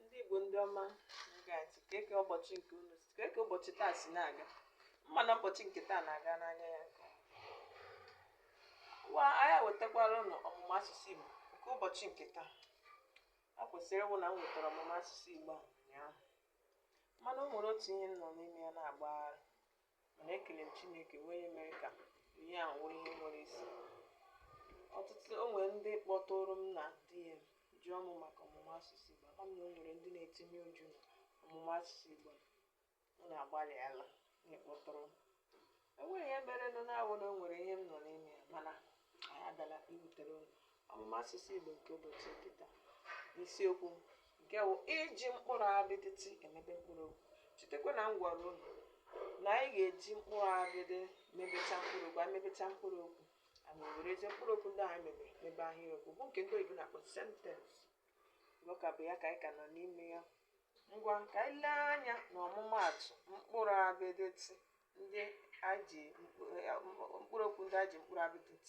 ndị Igbo ndị ọma na-ege ntị kee ka ụbọchị nke unu si kee ka ụbọchị taa si na-aga ama m na ụbọchị nke taa na-aga n'anya ya nke ọma. ngwa anyị ewetakwara unu ọmụmụ asụsụ Igbo nke ụbọchị nke taa a kwesịrị ịwụ na m wetara ọmụmụ asụsụ Igbo a ụnyaahụ mana o nwere otu ihe m nọ n'ime ya na-agbagharị Mana ekele m Chineke bụ onye mere ka ihe a wụrụ ihe nwere isi. Ọtụtụ o nwere ndị kpọtụụrụ m na DM jụọ m maka ọmụmụ asụsụ Igbo. Ama m na o nwere ndị na-etinye uchu na ọmụmụ asụsụ Igbo. Unu agbalịala n'ịkpọtụrụ m. E nwere ihe merenụ na-awụ na o nwere ihe m nọ n'ime ya mana anyị abịala iwetere unu. ọmụmụ asụsụ Igbo nke ụbọchị nke taa n'isiokwu nke wụ iji mkpụrụ abịdị t emebe mkpụrụ okwu chetakwa na m gwara unu na anyị ga-eji mkpụrụ abịdị mebecha mkpụrụ okwu anyị mebecha mkpụrụ okwu anyị werezie mkpụrụ okwu ndị anyị mebe mebe ahịrịokwu bụ nke ndị oyibo na-akpọ sentensị ọ ka bụ ya ka anyị ka nọ n'ime ya ngwa ka anyị lee anya na ọmụmaatụ mkpụrụ abịdị t ndị e ji mkpụrụ okwu ndị e ji mkpụrụ abịdị t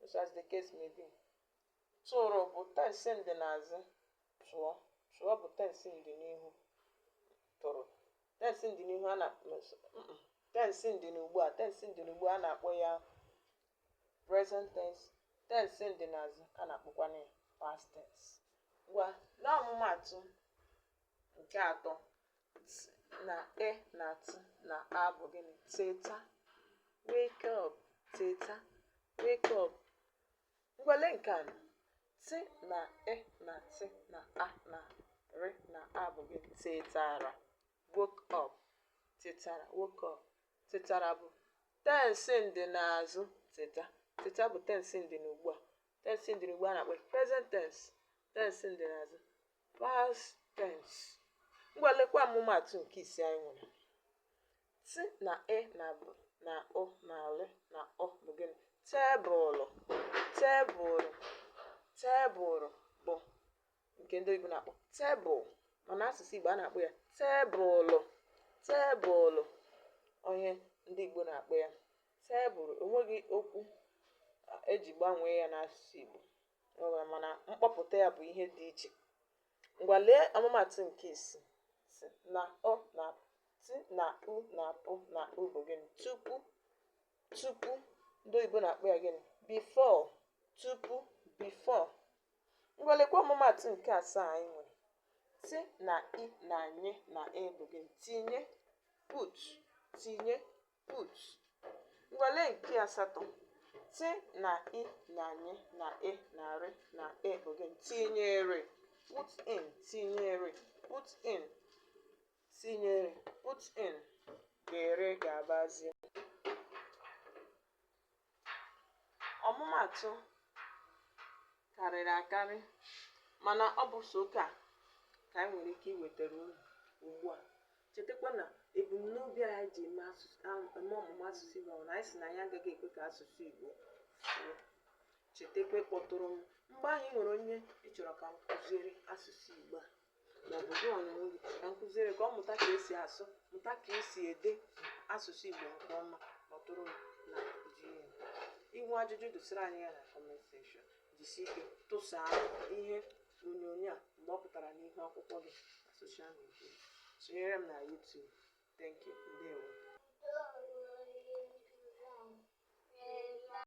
Just as the case may be. Tụrụ bụ tensi ndị n'azụ. Tụọ. Tụọ bụ tensi ndị n'ihu. Tụrụ. Tensi ndị n'ihu a na tensi ndị n'ugbu a tensi ndị n'ugbu a na-akpọ ya present tense tensi ndị n'azụ a na-akpọkwana ya past tense. Ngwa n'ọmụmaatụ Nke atọ, t na e na t na a bụ gịnị? Teta, wake up, teta, wake up. Ngwa lee nke anọ, t na e na t na a na r na a bụ gịnị? Tetara, woke up, tetara, woke up. Tetara bụ tensi ndị n'azụ teta. Teta bụ tensi ndị n'ugbu a. Tensi ndị n'ugbu a na-akpọ present tense, tensi ndị n'azụ. Past tense. Ngwa lekwa ọmụmatụ nke ise anyị nwere. Ti na e na bụ na ụ na lị na ụ bụ gịnị? Tebụlụ. Tebụlụ. Tebụlụ bụ nke ndị oyibo na-akpọ tebụl mana asụsụ Igbo a na-akpọ ya tebụlụ. Tebụlụ wụ ihe ndị Igbo na-akpọ ya tebụlụ. O nweghị okwu e ji gbanwee ya n'asụsụ Igbo. O wee mana mkpọpụta ya bụ ihe dị iche. Ngwa lee ọmụmatụ nke isii ti na u na ti na u na pụ na u bụ gịnị tupu tupu ndị oyibo na-akpọ ya gịnị before tupu before ngwa lekwa ọmụmatụ nke asaa anyị nwere ti na i na nye na e bụ gịnị tinye put tinye Put. Ngwa lee nke asatọ. Tị na i na nyị na e na rị na e again. Tinyere. Put in. Tinyere. Put in. Tinyere. Put in. Ga-ere ga-abazi. ọmụmaatụ karịrị akarị mana ọ bụ sọ nke a ka anyị nwere ike iwetara unu ugbu a chetakwa na ebumnobi anyị ji eme asụsụ ahụ- eme ọmụmụ asụsụ Igbo bụ na anyị sị na anyị agaghị ekwe ka asụsụ Igbo fuo chetakwa ịkpọtụrụ m mgbe i nwere onye ị chọrọ ka m kụziere asụsụ Igbo a maọbụ gị onwe gị ka m kụziere ka ọ mụta ka esi asụ mụta ka esi ede asụsụ Igbo nke ọma ma ọ bụrụ na i nwee ajụjụ dosara anyị ya na kọment sekshọn jisi ike tụsaa ihe onyonyo a mgbe ọ pụtara n'ihu akwụkwọ gị na soshal midia sonyere m na YouTube thank you ndewo